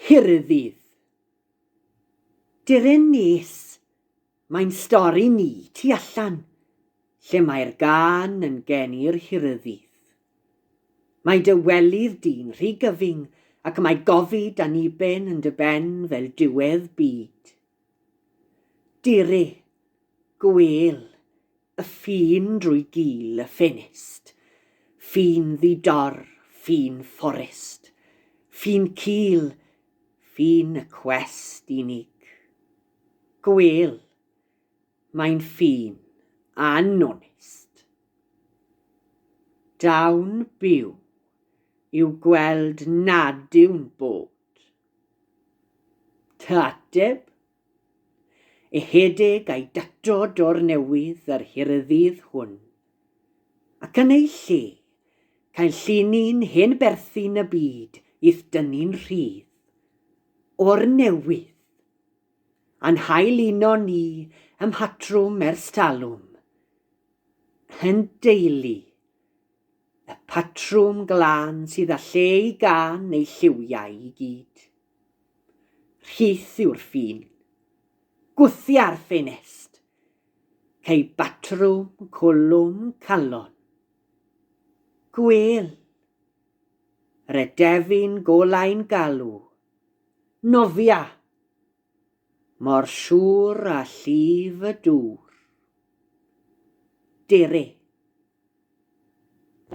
Nghaerdydd. Deren nes, mae'n stori ni tu allan, lle mae'r gân yn gen i'r Nghaerdydd. Mae dy welydd di'n rhy gyfyng ac mae gofid aniben yn dy ben fel diwedd byd. Dere, gwêl, Y ffin drwy gil y ffenest. Ffin ddi-dor, ffin fforest. Ffin cul, ffin y cwest unig. Gwêl, mae'n ffin anonest. Dawn byw i'w gweld nad yw'n bod. Dy ateb Ychydig a'i datod o'r newydd yr hirydydd hwn. Ac yn ei lle, cael llinyn hen berthyn y byd i'th dynnu'n rhydd. O'r newydd! A'n hail uno ni ym mhatrwm ers talwm. Yn deulu. Y patrwm glân sydd â lle i gân neu lliwiau i gyd. Rhith yw'r ffin. Gwthia'r ffenest. Cei batrwm cwlwm calon. Gwel. Redefin golau'n galw. Nofia. Mor siwr a llif y dŵr. Dere.